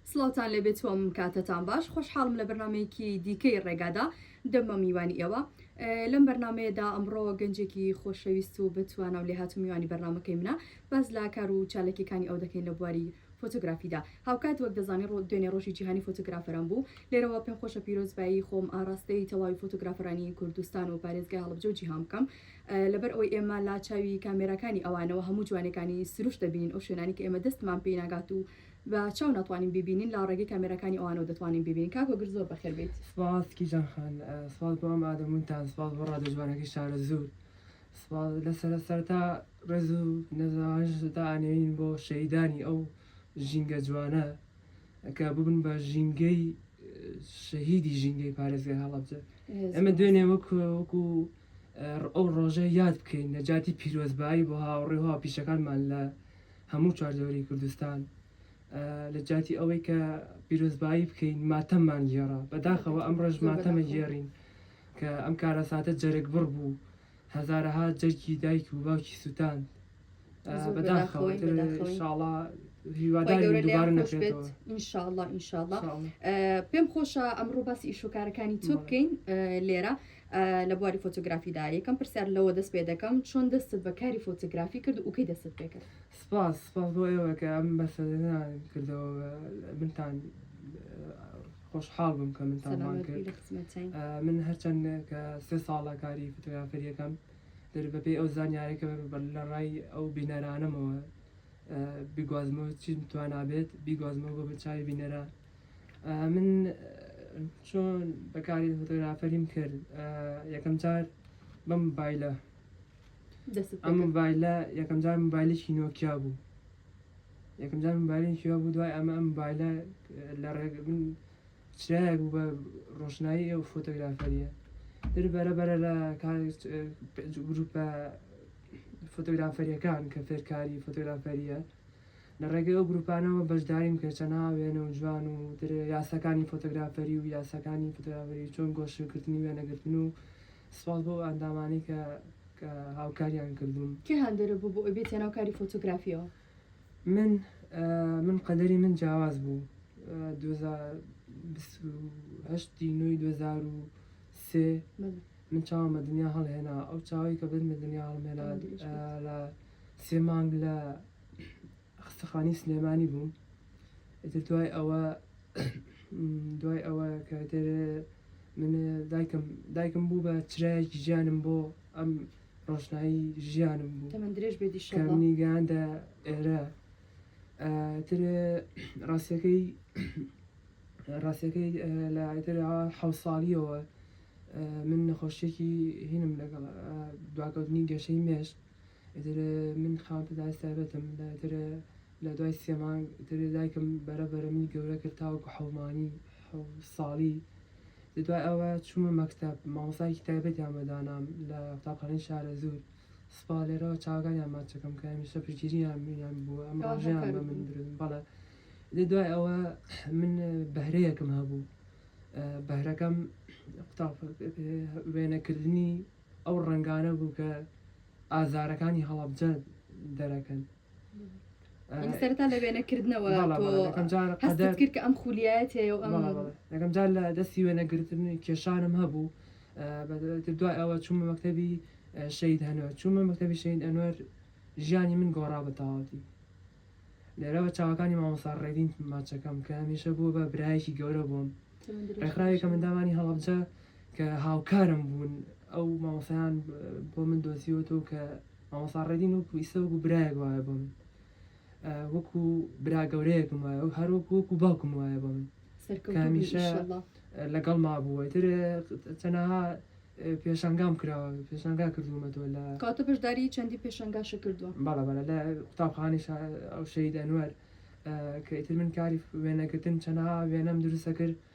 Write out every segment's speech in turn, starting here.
سڵاوتان لێبێت تۆم کاتەتان باش خۆشحاڵم لە بەرنمەیەکی دیکەی ڕێگادا دەمە میوانی ئێوە لەم بەرنمەیەدا ئەمڕۆ گەنجێکی خۆشەویست و بەتوانە و لێهات و میوانی بەرنمەکەی منە باز لا کار و چالکیەکانی ئەو دەکەین لە بواری فۆتۆگرافیدا هاوکات وەک دەزانانی ڕۆ دوێنێ ڕۆژی جیهانی فۆتۆگرافەران بوو لێرەوە پێم خۆشە پیرۆزبایی خۆم ئاراستەی تەواوی فۆتۆگرافەرانی کوردستان و پارێزگای هەڵبجە و جیهان بکەم لەبەر ئەوەی ئێمە لا چاوی کامێراکانی ئەوانەوە هەموو جوانێکانی سروشت دەبینین ئەو شوێنانی کە ئێمە دەستمان پێی ناگات و بە چاو ناتوانین بیبینین لا ڕێگەی کامێراکانی ئەوانەوە دەتوانین بیبینین کاک هۆگر زۆر بەخێر بێیت. سپاس کیژان خان سپاس بۆ ئەم ئادەمونتان سپاس بۆ ڕادیۆ جوانەکەی شارەزوور سپاس لە سەرە سەرەتا ڕێز و نەزەوانشتدا ئانێین بۆ شەهیدانی ئەو ژینگە جوانە کە ببن بە ژینگەی شەهیدی ژینگەی پارێزگای هەڵەبجە ئێمە دوێنێ وەک وەکو ئەو ڕۆژە یاد بکەین نەجاتی پیرۆزبایی بۆ هاوڕێ و هاوپیشەکانمان لە هەموو چواردەوری کوردستان لە جاتی ئەوەی کە پیرۆزبایی بکەین ماتەممان گێڕا بەداخەوە ئەم ڕۆژ ماتەمە گێڕین کە ئەم کارەساتە جەرگ بڕ بوو هەزارەها جەرگی دایک و باوکی سووتان پێم خۆشە ئەمڕۆ باسی ئیشوکارەکانی تۆ بکەین لێرە لە بواری فۆتۆگرافیدا یەکەم پرسیار لەوە دەست پێ دەکەم چۆن دەستت بە کاری فۆتۆگرافی کرد و کەی دەست پێ کرد سپاس سپاس بۆ ئێوەکە ئەم بەسەدەنا کردەوە منتان خۆشحاڵ بم کە منتان من هەرچەند کە سێ ساڵە کاری فتوگرافەریەکەم دەبێت بە پێی ئەو زانیارە کە لە ڕای ئەو بینەرانەمەوە بیگوازمەوە چی توانابێت بیگوازمەوە بە بەچوی بینەرە من چۆن بەکاری فۆتۆگرافەریم کرد یەکەم جار بەم بایلە ئەم بایلە یەکەم جار مبایلێکی نۆکیا بوو یەکەم جار مبایلێکی بوو دوای ئەمە ئەم بایلە لە ڕێگە من چرایەک بوو بە ڕۆشنایی ئەو فۆتۆگرافەرییە تر بەرە بەرە لە گروپە فۆتۆگرافەریەکان کە فێرکاری فۆتۆگرافەریە لە ڕێگە ئەو گروپانەوە بەشداریم کە چەنا وێنە و جوان و تر یاساکانی فۆتۆگرافەری و یاساکانی فۆتۆگرافەری چۆن گۆشکردنی وێنەگرتن و سپاس بۆ ئەندامانی کە هاوکاریان کردوون کێ هاندەرە بوو بۆ ئەوی بێتە ناو کاری فۆتۆگرافیەوە؟ من من قەدەری من جیاواز بوو دوزا بیست و هەشتی نۆی دوو هەزار و سێ بەڵێ من چاوم بە دنیا هەڵهێنا ئەو چاوی کە بن بە دنیا هەڵمێنا آه، دریش آه، بێت. لە سێ مانگ لە خستەخانی سلێمانی بووم ئیتر دوای ئەوە دوای ئەوە کەتر من دایکم دایکم بوو بە چرایەکی ژیانم بۆ ئەم ڕۆشنایی ژیانم بوو تەمەن درێژ بێت ان شاء کە الله منی گەیاندە ئێرە ئە، تر ڕاستیەکەی ڕاستیەکەی ئە، لە ئیتر ئا حەوت ساڵیەوە ئە، من نەخۆشیەکی هینم لەگەڵ ئە، دواکەوتنی گەشەی مێشک ئیتر ئە، من خاوەن پێداوی سایبەتم لە ئیتر ئە، لە دوای سێ مانگ ئیتر دایکم بەرە بەرە منی گەورە کرد تاوەکو حەومانی حەوت ساڵی دوای ئەوە چوومە مەکتەب، مامۆستایەکی تایبەتیان بە دانام لە قوتابخانەی شارەزوور، سوپا لێرەوە چاوەکانیان ماچەکەم کە هەمیشە پشتگیریان بووە، ئەم ڕۆژەیان بە من برد. بەڵێ. ئیدی دوای ئەوە من بەهرەیەکم هەبوو، بەهرەکەم قوتاب وێنەکردنی ئەو ڕەنگانە بوو کە ئازارەکانی هەڵەبجە دەرەکەن. سەرتا لە وێنە کردنەوە هەستت کرد کە ئەم خولیایەت هەیە و ئەم یەکەم جار لە دەستی وێنەگرتن کێشانم هەبوو دوای ئەوە چوومە مەکتتەبی شەید هەنوەر چوومە مەکتتەبی شەید ئەنوەر ژیانی من گۆڕا بە تەواوەتی لێرەوە چاوەکانی مامۆسا ڕێدین ماچەکەم کە هەمیشە بووە بە برایەکی گەورە بووم ڕێکخراوێکە منداوانی هەڵبجە کە هاوکارم بوون ئەو مامۆسایان بۆ من دۆزیوەەوە کە مامۆستا ڕێدین وەکو ئیستا وەکو برایەک وایە بۆ من وەکو برا گەورەیەکم وایە و هەر وەکو وەکو باوکم وایە بۆ من کامیشە لەگەڵ مابووە تر چەنەها پێشنگام کراوە پێشنگا کردوومەتەوە لە کاتە بەشداری چەندی پێشنگاش کردووە باڵە باە لە قوتابخانی ئەو شەید ئەنوەر کە ئیتر من کاری وێنەگرتن چەنەها وێنەم دروستە کرد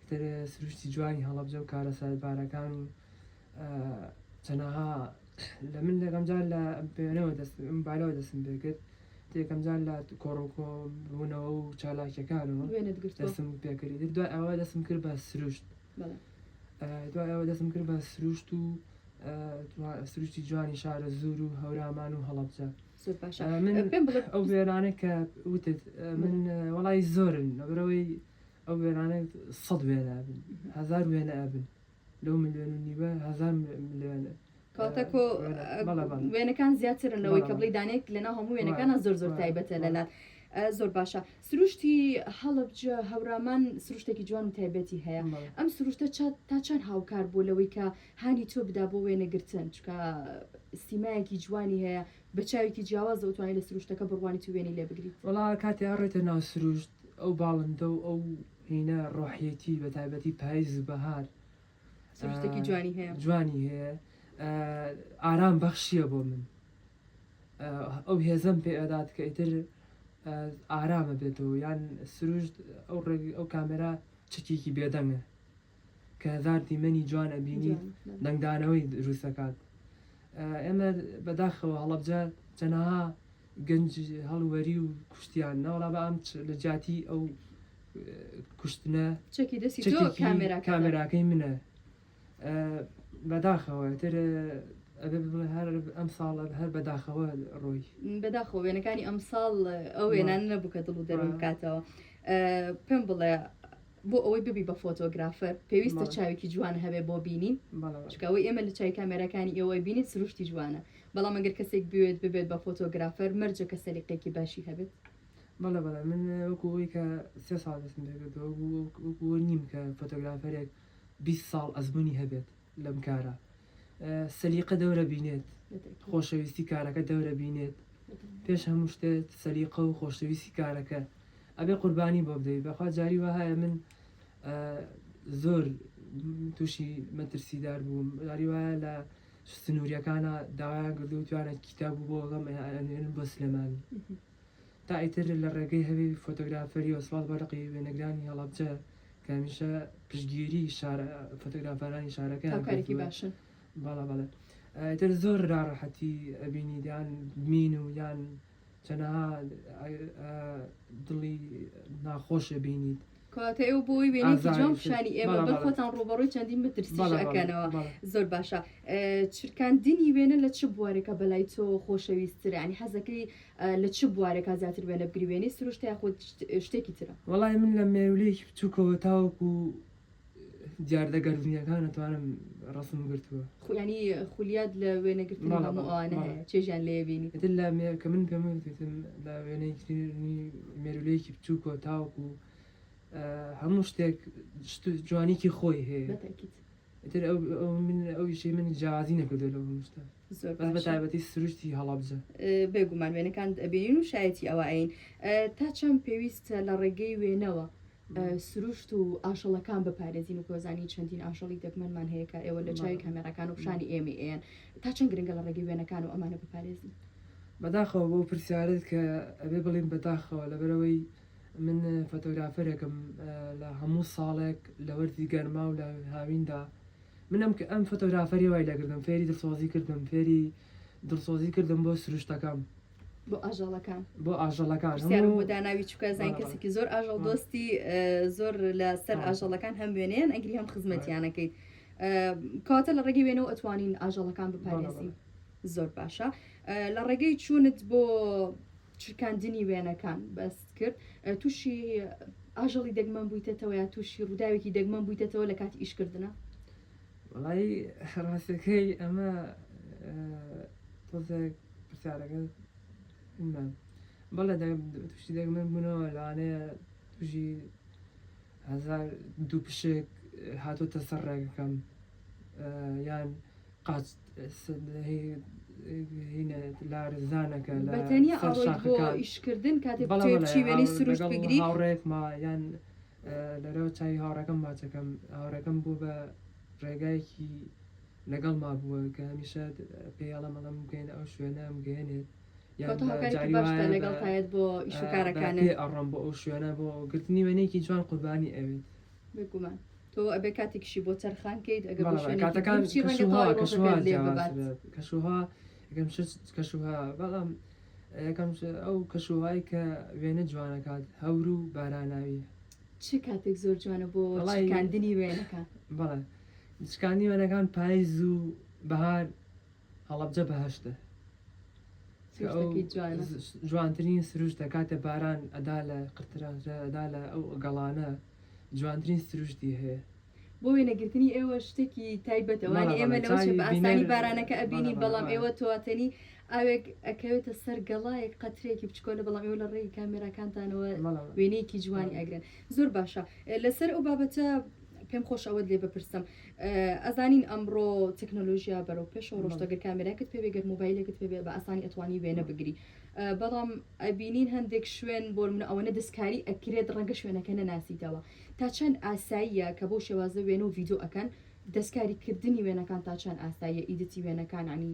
ئیتر سروشتی جوانی هەڵەبجە و کارەساتبارەکان و چەنەها لە من یەکەم جار لە بێنەوە دەست بالەوە دەستم پێ کرد یەکەم جار لە کۆڕۆکۆ بوونەوە و چالاکیەکانەوە وێنەت گرت دەستم پێکردی تر دوای ئەوە دەستم کرد بە سروشت بەڵێ ئە، دوای ئەوە دەستم کرد بە سروشت و ئە، جوا- سروشتی جوانی شارە زور و هەورامان و هەڵەبجە زۆر باشە ئە، من پێم بڵێ ئەو وێرانە کە وتت ئە، من ئە، وەڵای زۆرن لەبەرەوەی ئەو وێنانە سەد وێنە ئەبن هەزار وێنە ئەبن لەو ملیۆن و نیوە هەزار ملیۆنە کاتەکۆ وێنەکان زیاترن لەوەی کە بڵی دانێک لەنا هەموو وێنەکانە زۆر زۆر تایبەتە لەلات زۆر باشە سروشتی هەڵبج هەورامان سروشتێکی جوان و تایبەتی هەیە ئەم سروشتە تا چەند هاوکار بۆ لەوەی کە هانی تۆ بدا بۆ وێنەگرتن چکە سیمایەکی جوانی هەیە برچاوێکی جیاوازە و توانیت لە سروشتەکە بڕوانیت و وێنەی لێ بگریت. وەڵا کاتێ ئەڕێتە ناو سروشت ئەو باڵندە و ئەو هینە ڕۆحیەتی بە تایبەتی پایز و بەهار سروشتێکی جوانی هەیە جوانی هەیە ئارام بەخشیە بۆ من ئەو هێزەم پێ ئەدات کە ئیتر ئارامە بێتەوە یان سروشت ئەو ڕێ ئەو کامێرا چەکێکی بێدەنگە کە هەزار دیمەنی جوان ئەبینیت دەنگدانەوەی دروست ئەکات ئێمە بەداخەوە هەڵەبجە چەنەها گەنج هەڵوەری و کوشتیان ناوەڵا بە ئەم لە جیاتی ئەو کوشتنە چەکی دەستی کامێراکەی منە بەداخەوە تر هەر ئەم ساڵ هەر بەداخەوە ڕۆی بەداخۆ وێنەکانی ئەم ساڵ ئەو وێنان نەبوو کە دڵ و دەرم بکاتەوە پێم بڵێ بۆ ئەوەی ببی بە فۆتۆگرافەر پێویستە چاوێکی جوان هەبێ بۆ بینین چکە ئەوەی ئێمە لە چای کامێراکانی ئێوەی بینین سروشتی جوانە بەڵام ئەگەر کەسێک بوێت ببێت بە فۆتۆگرافەر مەرجە کە سەلیقێکی باشی هەبێت بەڵێ بەڵێ من وەکو ئەوی کە سێ ساڵ دەستم پێکردەوە بوو وەکو نیم کە فۆتۆگرافەرێک 20 ساڵ ئەزمونی هەبێت لەم کارە سەلیقە دەورە بینێت خۆشەویستی کارەکە دەورە بینێت پێش هەموو شتێت سەلیقە و خۆشەویستی کارەکە ئەبێ قوربانی بۆ بدەیت بەخوا جاری وەهایە من زۆر تووشی مەترسیدار بووم جاری وایە لە سنووریەکانە داوایان کردو توانێت کتاب بۆ بەڵام بۆ سلێمانی تا ئیتر لە ڕێگەی هەوی فۆتۆگرافەریەوە سڵاو بۆ لقی وێنەگرانی هەڵەبجە کە هەمیشە پشتگیری شارە فۆتۆگرافەرانی شارەکەیان هاوکارێکی کردووە. باشن. بەڵێ بەڵێ ئیتر زۆر ناڕەحەتی ئەبینی یان بمین و یان چەنەها دڵی ناخۆش ئەبینیت. کەواتە ئێوە بۆ ئەوەی وێنەیەکی جوان ئازایەکی. پیشانی ئێمە بەڵێ، بەن، بەڵێ. خۆتان ڕووبەڕووی چەندین مەترسیش بەڵێ، بەڵێ، ئەکەنەوە. بەڵێ. زۆر باشە. ئە، چرکاندنی وێنە لە چ بوارێکا بە لای تۆ خۆشەویستترە؟ یانی حەزەکەی ئە، لە چ بوارێکا زیاتر وێنە بگری، وێنەی سروشتە یاخود شت، شتێکی ترە؟ وەڵاهی من لە مێروولەیەکی بچووکەوە تاوەکوو دیاردە گەردونیەکان ئەتوانم ڕەسم گرتووە. خو یانی خولیات لە وێنە گرتنی بەڵێ، هەموو بەڵێ، ئەوانە هەیە بەڵێ. چێژیان لێیە بینی. ئیتر لە مێ کە من پێم وت وتم لە وێنەی گرتنی مێروولەیەکی بچووکەوە تاوەکو هەموو شتێک شت و جوانیکی خۆی هەیە. بە تەئکید. ئیتر ئەو ئەو من ئەو ئیشەی من جیاوازی نەکردووە لەو هەموو شتە. زۆر بەس بە باشە. تایبەتی سروشتی هەڵەبجە. بێ گومان وێنەکانت ئەبینین و شایەتی ئەوە ئەین. ئە تا چەند پێویستە لە ڕێگەی وێنەوە سروشت و ئاژەڵەکان بپارێزین و کۆزانی چەندین ئاژەڵی دەگمەنمان هەیە کە ئێوە لە چای کامێراکان و پیشانی ئێمەی ئێن تا چەند گرنگە لە ڕێگەی وێنەکان و ئەمانە بپارێزین بەداخەوە بۆ پرسیارت کە ئەبێ بڵین بەداخەوە لەبەرەوەی من فۆتۆگرافەرێکم لە هەموو ساڵێک لە وەرزی گەرما و لە هاویندا منم کە ئەم فۆتۆگرافەری وای لەگردم فێری دڵسۆزی کردم فێری دڵسۆزی کردم بۆ سروشتەکەم بۆ ئاژەڵەکان بۆ ئاژەڵەکان پرسیارم بۆ داناوی چکە زانین کەسێکی زۆر ئاژەڵ دۆستی زۆر لە سەر ئاژەڵەکان هەم وێنەیەن ئەگری هەم خزمەتیانەکەیت کاتە لە ڕێگەی وێنەوە ئەتوانین ئاژەڵەکان بپارێزین زۆر باشە لە ڕێگەی چوونت بۆ چرکاندنی وێنەکان بەست کرد تووشی ئاژەڵی دەگمەن بوویتەوە یا تووشی ڕووداوێکی دەگمەن بوویتەوە لە کاتی ئیشکردە وەڵایی ڕاستەکەی ئەمە تۆزێک پرسیارەکە نە بەڵێ دە توشتی دەگمەن بوونەوە لەوانەیە توژی هەزار دوو پشک هاتۆتە سەر ڕێگەکەم یان قاچ لارزانەکە لەتەنیا ئەڕۆیت بۆ ئیشکردن کاتێ بەڵێ بەڵێ چی وێنەی هاو- سروشت لەگەڵ بگری هاوڕێکما یان لەرەوە چاوی هاوڕێکەم ماچەکەم هاوڕێکەم بووە بە ڕێگایەکی لەگەڵما بووە کە هەمیشە پێی ئەڵێم ئەڵێم بگەینە ئەو شوێنە ئەمگەیەنێت یان بە جاری وایە لەگەڵ تایەت بۆ ئیش و کارەکانت. بە پێ ئەڕۆم بۆ ئەو شوێنە بۆ گرتنی وێنەیەکی جوان قوربانی ئەوێت. بێگومان تۆ ئەبێ کاتێکیشی بۆ تەرخان کەیت ئەگەر بە شوێنێکی بڵێ کاتەکان دووربچی ڕەنگە تەواوی ڕۆژەکەت لێ ببات. کاتەکان کەشوهەوا کەشوهەوا کەشوهەوا ئەگەم شت کەشوهەوا بەڵام یەکەمش ئەو کەش و هەوای کە وێنە جوان ئەکات هەور و باراناویە. چ کاتێک زۆر جوانە بۆ وەڵای- چرکاندنی وێنەکان؟ بەڵێ چرکاندنی وێنەکان پایز و بەهار هەڵەبجە بەهەشتە. کە ئەو سروشتەکەی جوانە. جوانترین سروشتە کاتێ باران ئەدا لە قرترا ئەدا لە ئەو گەڵانە. جوانترین سروشتی هەیە. بۆ وێنەگرتنی ئێوە شتێکی تایبەتە وانیە ئێمە لەوە چێ بە ئاسانی بارانەکە ئەبینین بەڵام ئێوە تۆاتەنی ئاوێک ئەکەوێتە سەر گەڵایەک قەترێکی بچکۆلە بەڵام ئێوە لە ڕێی کامێراکانتانەوە وێنەیەکی جوانی ئەگرن زۆر باشە لەسەر ئەو بابەتە پێم خۆش ئەوەت لێ بپرسم ئەزانین ئەمڕۆ تەکنۆلۆژیا بەرەو پێشەوە ڕۆشتەگەر کامێراکت پێ بێگەر موبایلێکت پێ بێ بە ئاسانی ئەتوانی وێنە بگری بەڵام ئەبینین هەندێک شوێن بۆنمونە ئەوەنە دەستکاری ئەکرێت ڕەنگە شوێنەکە نەناسیتەوە تا چەند ئاساییە کە بۆ شێوازە وێن و ڤیددیو ئەەکەن دەستکاری کردنی وێنەکان تا چەند ئاساییە ئیدتی وێنەکان عنی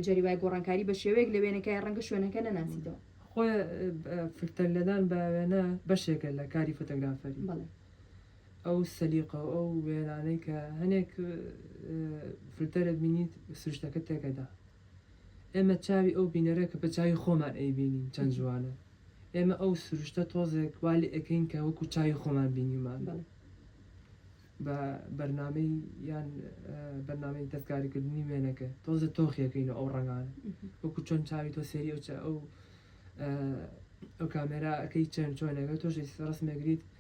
جەری وای گۆڕانکاری بە شێوەیەک لە وێنەکەی ڕەنگە شوێنەکە نەناسیتەوە خۆ فلتەر لەدان بە وێنە بەشێکە لە کاری فۆتۆگرافەری بەڵێ ئەو سەلیقە و ئەو وێنانەی کە هەنێک فلتەرت بینیت سروشتەکە تێکەدا ئێمە چاوی ئەو بینەرە کە بە چاوی خۆمان ئەیبینین چەند جوانە، ئێمە ئەو سروشتە تۆزێک وا لێ ئەکەین کە وەکو چاوی خۆمان بینیومان بە بەرنامەی یان بەرنامەی دەستکاریکردنی وێنەکە تۆزێ تۆخی ئەکەین و ئەو ڕەنگانە وەکو چۆن چاوی تۆ سێری ئەو ئەو ئەو کامێرا ئەەکەی چەند چۆنەکە تۆش ڕسمێگریت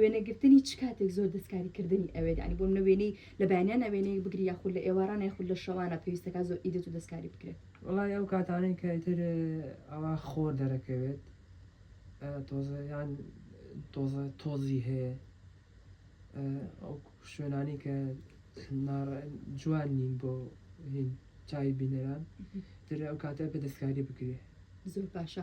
وێنەگرتنی چ کاتێک زۆر دەستکاریکردنی ئەوێت ینی بۆ منە وێنەی لە بەیانیانە وێنەیەک بگری یاخود لە ئێواران یاخود لە شەوانە پێویستەکە زۆر ئیدت و دەستکاری بکرێت وڵی ئەو کاتانەی کە ئیتر ئەوە خۆر دەرەکەوێت تۆزە یان تۆزە تۆزی هەیە ئەو شوێنانی کە جوان نین بۆ هین چاوی بینەران تر ئەو کاتە بە دەستکاری بکرێت زۆر باشە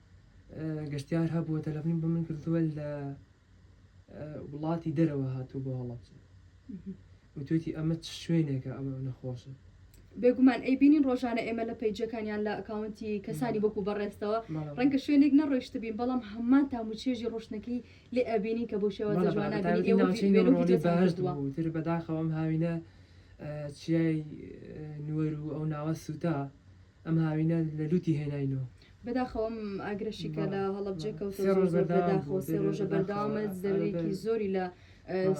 گەشتیار هەبووە تەلەفنی بۆ من کردووە لە وڵاتی دەرەوە هاتوو بۆ هەڵەبجە وتێتی ئەمە چ شوێنێکە ئەمە نەخۆشە بێگومان ئەی بینین ڕۆژانە ئێمە لە پەیجەکانیان لە ئەکاونتی کەسانی وەکو بەڕێستەوە ڕەنگە شوێنێک نەڕۆیشت بین بەڵام هەمان تام و چێژی ڕۆشتنەکەی لێ ئەبینین کە بۆ شێوە جوانتر بەداخەوەم هاوینە چیای نوەر و ئەو ناوە سووتا ئەم هاوینە لە لوتی هێناینەوە. بەداخەوە ئەم ئاگرە شیکە لە هەڵەبجە کەوتە زۆر زۆر بەداخەوە سێ ڕۆژە بەردەوامە زەرەرێکی زۆری لە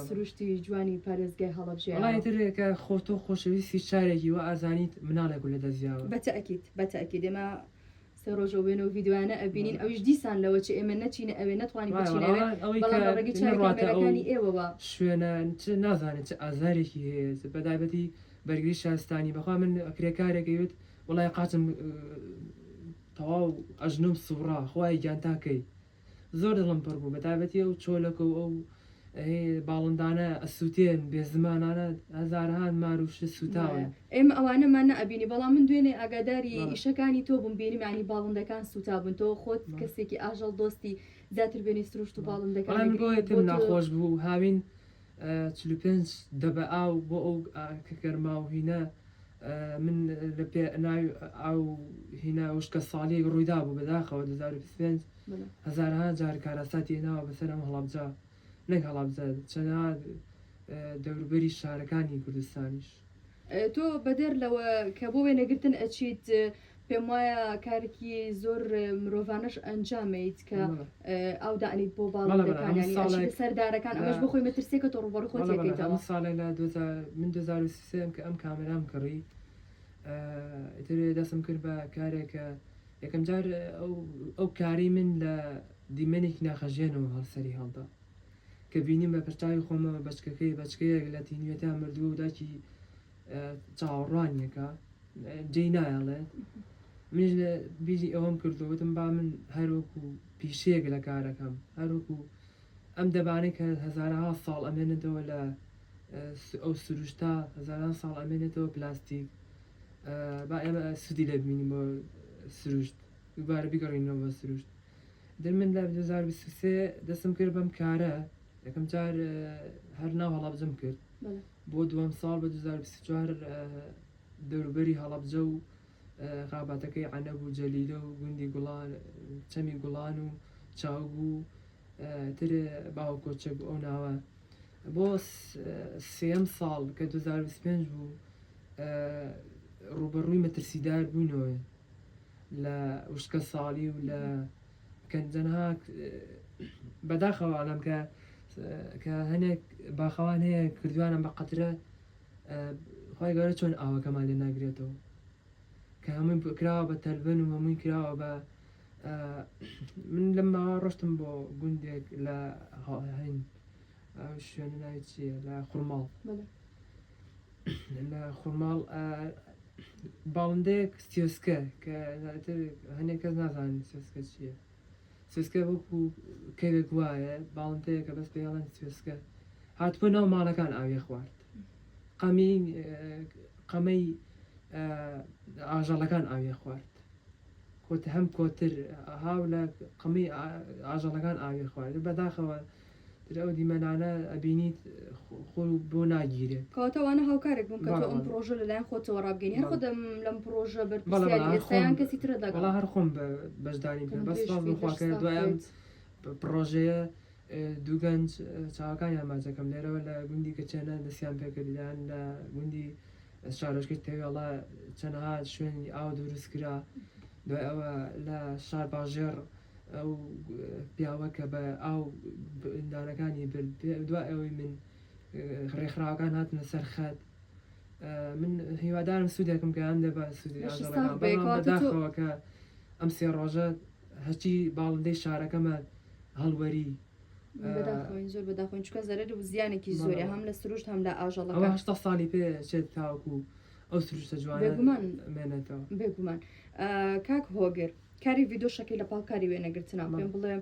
سروشتی جوانی پارێزگای هەڵەبجەیە وەڵا ئیتر کە خۆ تۆ خۆشەویستی شارێکی وا ئازانیت مناڵێک و لەدەست یاوە. بە تەئکید بە تەئکید ئێمە سێ ڕۆژە وێنە و ڤیدیۆیانە ئەبینین ئەویش دیسان لەوە چ ئێمە نەچینە ئەوێ نەتوانین بچینە ئەوێ وایە وەڵا ئەوەی کە بەڵام لە ڕێگەی چاوی نەڕواتە ئەو کامێرەکانی ئێوەوە شوێنە چ نازانێت چ ئازارێکی هەیە بە تایبەتی بەرگری شارستانی بەخوا من کرێکارێک ئەیوت وەڵای قاچم تەواو ئەژنۆم سوڕا خوایە گیان تا کەی زۆر دڵم پڕ بوو بەتابەتی ئەو چۆلەکە و ئەو باڵندانە ئەسووتێن بێ زمانانە هەزارهان مار و شت سووتاون ئێمە ئەوانەمان نەبینی بەڵام من دوێنێ ئاگاداری ئیشەکانی تۆ بووم بینیم ینی باڵندەکان سووتابوون تۆ خۆت کەسێکی ئاژەڵ دۆستی زیاتر بینی سروشت و باڵندەکان گۆیەتم ناخۆش بوو هاوین چل و پێنج دەبە ئاو بۆ ئەو کە گەرما و هینە من لە پێ ناوی ئاو هینا وشکە ساڵیەک ڕوویدا بوو بەداخەوە 2025 هەزارها جار کارەساتی هێناوە بەسەر ئەم هەڵابجا نەک هەڵابجا چەنا دەوروبەری شارەکانی کوردستانیش تۆ بەدەر لەوە کە بۆ وێنەگرتن ئەچیت پێم وایە کارێکی زۆر مرۆڤانەش ئەنجامەیت کە ئاو دانیت بۆ باڵندەکان سەردارەکان ئەمەش بۆ خۆی مەترسێکە تۆ ڕوبەڕ خۆ تێکەیتەوە ساڵێ لە من 2023 کە ئەم کامەرام کڕی ئیتر دەسم کرد بە کارێکە یەکەم جار ئەو کاری من لە دیمەنێکی ناخەژێنەوە هەڵسەری هەڵدا کە بینیم بە پرتاوی خۆمەوە بەچکەکەی بەچکەیەک لە تینوێتا مردووە و داکی چاوەڕوانیەکە جێی نایەڵێت منیش لە بیری ئەوەم کردوتم با من هەروەکو پیشەیەک لە کارەکەم هەروەکو ئەم دەبانەی کە هەزارها ساڵ ئەمێنێتەوە لە ئەو سروشتا هەزاران ساڵ ئەمێنێتەوە پلاستیک با ئێمە سودی لە بینین بۆ سروشت دوبارە بگەڕینەوە بە سروشت در من لە 2023 دەستم کرد بەم کارە یەکەم جار هەر ناو هەڵابجم کرد بۆ دووەم ساڵ بە دوو هەزار و بیست و چوار دەوروبەری هەڵەبجە و خاباتەکەی عەنەب و جەلیلە و گوندی گوڵان چەمی گوڵان و چاوگ و تر باوە کۆچەک بوو ئەو ناوە بۆ سێم ساڵ کە 2025 بوو ڕوبەڕووی مەترسیدار بووینەوە لە وشکە ساڵی و لە کە تەنها بەداخەوە ئەڵێم کە کە هەنێک باخەوان هەیە کردوانە بە قەترە خی گەورە چۆن ئاوەکەمان لێ ناگرێتەوە کە هەمووی بکراوە بە تەلبن و هەمووی کراوە بە من لەم ماوە ڕشتم بۆ گوندێک لە هەین شوێنە ناوی چیە لە خورماڵ لە خورماڵ باڵندەیەک سێسکە کە زیاتر هەنێک کەس نازانن سێسکە چییە سێسکە وەکو کەوێک وایە باڵندەیەکە بەس پێڵەن سێسکە هاتبوو ناو ماڵەکان ئاوێ خوارد قەمی قەمەی ئاژەڵەکان ئاوێ خوارد کۆت هەم کۆتر هاو لە قەمی ئاژەڵەکان ئاوێ خوارد بەداخەوە تر ئەو دیمەنانە ئەبینیت خۆ بۆ ناگیرێ کەواتە وانە هاوکارێک بووم کە تۆ ئەم پرۆژە لەلایەن خۆتەوە ڕابگەنی هەر خۆ دەم لەم پرۆژە بەرپرسیاری ئێستایان کەسی ترە دەگەڵ وەڵا هەر خۆم بە بەشداریم کرد بەس سوپاس بۆ خوا کە دوای ئەم پرۆژەیە دوو گەنج چاوەکانیان ماچەکەم لێرەوە لە گوندی کەچێنە دەستیان پێکردیان لە گوندی شارۆچکەی تەوێڵە چەندەها شوێنی ئاو دروست کرا دوای ئەوە لە شارباژێڕ ئەو پیاوە کە بە ئاو دارەکانی برد دوای ئەوەی من ڕێکخراوەکان هاتنە سەر خەت من هیوادارم سوودێکم کە هەندێک بە سوودی بەشی ساغ ئاژەڵەکان بێ، بەڵام کەواتە تۆ- بەداخەوە کە ئەم سێ ڕۆژە هەرچی باڵندەی شارەکەمان هەڵوەری ئا، بەداخەوەین زۆر بەداخەوەین چونکە زەرەر و زیانێکی زۆرە بەڵێ. هەم لە سروشت هەم لە ئاژەڵەکان. ئەوە هەشتا ساڵی پێ ئەچێت تاوەکو ئەو سروشتە جوانە بێگومان مێنێتەوە بێگومان کاک هۆگر کاری ڤیددیو شەکەی لە پاڵ کاری وێنەگرتنا پێم بڵێ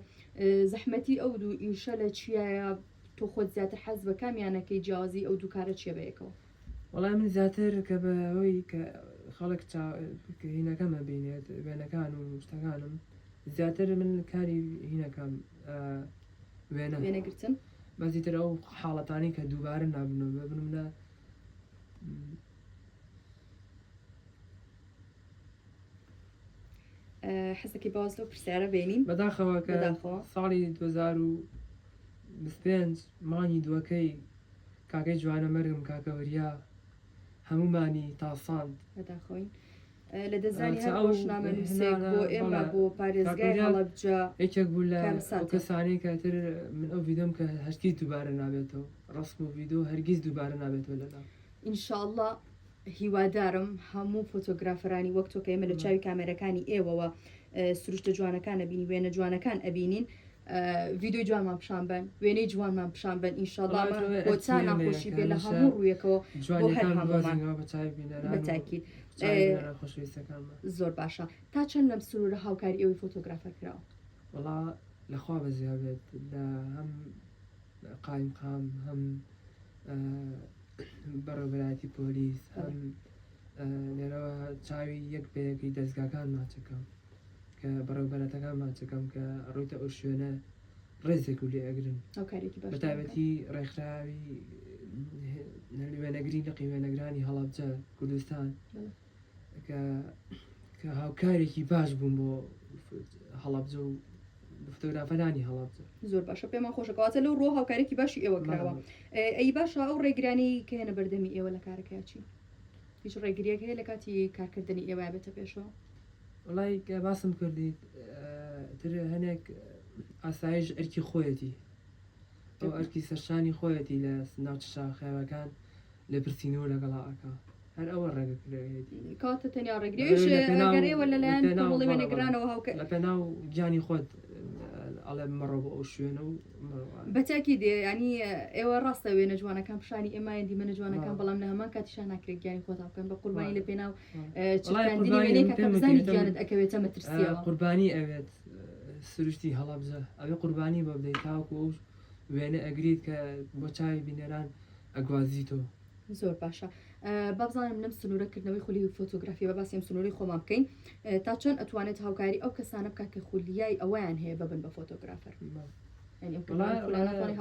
زەحمەتی ئەو دوو ئیشە لە چیایە تۆ خۆت زیاتر حەز بە کامیانەکەی جیازی ئەو دووکارە چێ بەیەکەوە وڵای من زیاتر کە بەەوەی کە خەڵک هینەکەمە بینێت وێنەکان و شتەکانم زیاتر من کاری هینەکەم وێنە وێنەگرتن بەزیتر ئەو حاڵەتانی کە دووبارە نابنەوە ببنمە حەزەکی باز لەو پرسیارە بینین بەداخەوە کە بەداخەوە. ساڵی 2025 مانگی دووەکەی کاکەی جوانەمەرگم کاکە وریا هەموومانی تاساند. بەداخەوەین لە دەزانی هەر ڕۆژنامەنووسێک بۆ ئێمە بۆ پارێزگای هەڵەبجە یەکێک بوو لە کەسانەی کەتر من ئەو ڤیدۆم کە هەرگیز دووبارە نابێتەوە ڕسم و ڤیدۆ هەرگیز دووبارە نابێتەوە لەلا ئینشاءله هیوادارم هەموو فۆتۆگرافەرانی وەک تۆکە ئێمە لە چاوی کامێرەکانی ئێوەوە سروشتە جوانەکان ئەبینی وێنە جوانەکان ئەبینین ڤیدۆی جوانمان پیشان بەن وێنەی جوانمان پیشان بەن ئینشاڵڵا وەڵا جوانە بۆ چا ئەتیە ناخۆشی بێ لە هەمیشە هەموو ڕوویەکەوە بۆ هەر جوانیەکان هەموومان بوازینەوە بە چاوی بینەران و بەتاکید چاوی ئێ، بینەران خۆشەویستەکانمان زۆر باشە تا چەند لەم سنوورە هاوکاری ئێوەی فۆتۆگرافەر کراوە وەڵا لە خوا بەزیا بێت لە هەم قایمقام هەم ئە، بەڕێوەبەرایەتی پۆلیس هەم لێرەوە چاوی یەک بە یەکی دەزگاکان ماچەکەم کە بەڕێوبەرەتەکان ماچەکەم کە ڕوویتە ئەو شوێنە ڕێزێک و لێ ئەگرن بەتابەتی ڕێکخراوی وێنەگری لەقی وێنەگرانی هەڵابجە کوردستان کە کە هاوکارێکی باش بووم بۆ هەڵابجە و فۆتۆگرافەرانی هەڵات زۆر باشە پێمان خۆشەکەواتە لەو ڕۆ هاوکارێکی باشی ئێوە کراوە ئەی باشە ئەو ڕێگرانی کە هێنە بەردەمی ئێوە لە کارەکەیچی هیچ ڕێگریەک هەیە لە کاتی کارکردنی ئێوە بێتە پێشەوە؟ وەڵای کە باسم کردیت تر هەنێک ئاسایش ئەرکی خۆیەتی ئەو ئەرکی سەرشانی خۆیەتی لە ناوچە شاخێوەکان لە پرسین و لەگەڵا ئەکا هەر ئەوە ڕێگە کرێتی کاتە تەنیا ڕێگرێش گەرێوە لەلایەن ناوڵێوێنەگرانەوە هاوکە لە پێناو گیانی خۆت ئەڵێ مەڕۆ بۆ ئەو شوێنە و مەڕۆ. بە چاکی دێ یانی ئێوە ڕاستە وێنە جوانەکان پیشانی ئێمایان دیمەنە جوانەکان بەڵام لە هەمان کاتیشان ناکرێت گیانی خۆتان بکەن بە قوربانی لە پێناو چکاندنی وێنەیە کە بزانانی گیانت ئەکەوێتە مەترسیەوە قوربانی ئەوێت سروشتی هەڵەبجە ئەوێ قوربانی بۆ بدەیت تاوەکو ئەو وێنە ئەگریت کە بۆ چاوی بینەران ئەگوازیتەوە. زۆر باشە بابزانم لەم سنوورە کردنەوەی خولی فۆتۆگرافی بە باسی ئەم سنووری خۆمان بکەین تا چۆن ئەتوانێت هاوکاری ئەو کەسانە بکە کە خولیای ئەویان هەیە ببن بە فۆتۆگرافەر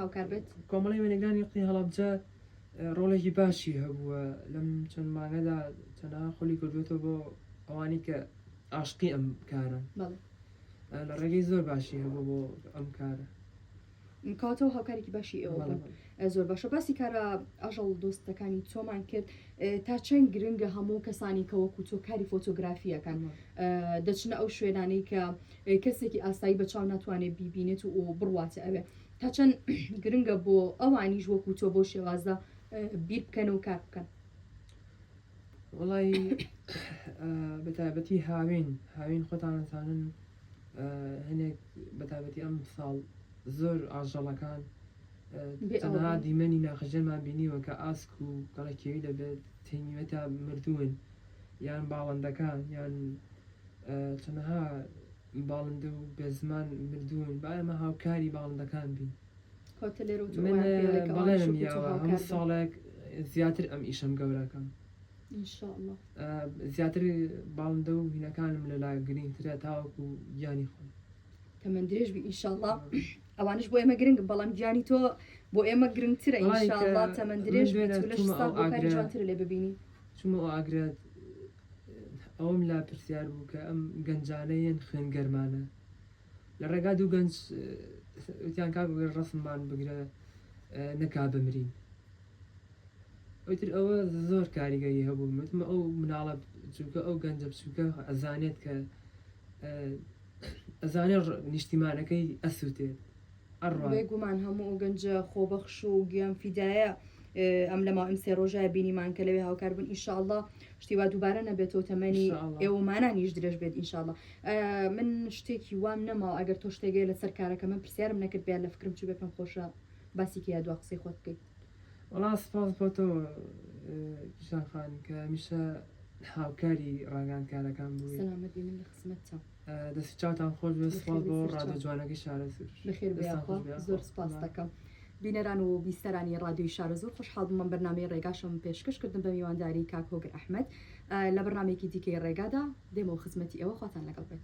هاوکار بێت کۆمەڵی وێنەگرانی قی هەڵبجە ڕۆڵێکی باشی هەبووە لەم چەند مانگەدا تەنها خولی کردوێتەوە بۆ ئەوانی کە ئاشقی ئەم کارن لە ڕێگەی زۆر باشی هەبوو بۆ ئەم کارە کاتەوە هاوکارێکی باشی ئێوە بوون زۆر باشە باسی کارە ئاژەڵ دۆستەکانی تۆمان کرد تا چەند گرنگە هەموو کەسانی کە وەکو تۆ کاری فۆتۆگرافیەکان دەچنە ئەو شوێنانەی کە کەسێکی ئاسایی بە چاو ناتوانێت بیبینێت و بڕواتە ئەوێ تا چەند گرنگە بۆ ئەوانیش وەکو تۆ بۆ شێوازە بیر بکەن و کار بکەن وڵی بەتابەتی هاوین هاوین خۆتانەزانن هەنێک بەتابەتی ئەم ساڵ زۆر ئاژەڵەکان تەنها دیمەنی ناخەژێمان بینیوە کە ئاسک و گەڵەکێوی لە تەنیوەتا مردوون یان باڵندەکان یان تەنها باڵندە و بێزمان مردوون با ئێمە هاوکاری باڵندەکان بین بەڵێنم یاوە هەموو ساڵێک زیاتر ئەم ئیشەم گەوراکەم. زیاتر باڵندە و هینەکانم لەلا گرینگترە تاوەکو گیانی خۆم تەمەەن درێژ بی ئینشاءله ئەوانش بۆ ئێمە گرنگ بەڵام گیانی تۆ بۆ ئێمە گرنگترە ئینشاءله تەمەەن درێژ جوانتر لێ ببینی چمە ئاگرێت ئەوم لا پرسیار بوو کە ئەم گەنجانەیەن خوێن گەرمانە لە ڕێگا دوو گەنج وتیان کاک وەگەر ڕەسممان بگرە نەکا بمرین ئەوتر ئەوە زۆر کاریگەری هەبوو وتمە ئەو مناڵە چووکە ئەو گەنجە بچووکە ئەزانێت کە ئەزانێت نیشتیمانەکەی ئەسووتێت بێ گومان هەموو ئەو گەنجە خۆبەخش و گیان فیدایە ئەم لە ماوەم سێ ڕۆژای بینیمان کە لەوێ هاوکار بوون ئیشاءله شتی وا دووبارە نەبێتەوە تەمەنی ئێوەمانانیش درێژ بێت ئینشاءله من شتێکی وام نەماوە ئەگەر تۆ شتێگەی لەسەر کارەکە من پرسیارم نەکرد بێت لە فکرم چی بێ پێم خۆشە باسی کە یا دو قسەی خۆت بکەیت وڵا سپاس بۆتەوە پیشانخان کە میشە هاوکاری ڕاگەاندکارەکان بوو سلامەتی من لە خزمەتە دەست چاوتان خۆش بێت سوپاس بۆ ڕادیۆ جوانەکەی شارەزوور بەخێر بێی دەستان خۆش یاخوا بێت زۆر سوپاست دەکەم بینەران و بیستەرانی ڕادیۆی شارەزوور خۆشحاڵ بووم ئەم بەرنامەی ڕێگاشم پێشکەش کردم بە میوانداری کاک هۆگر ئەحمەد ئە لە بەرنامەیەکی دیکەی ڕێگادا دێمەوە خزمەتی ئێوە خواتان لەگەڵ بێت.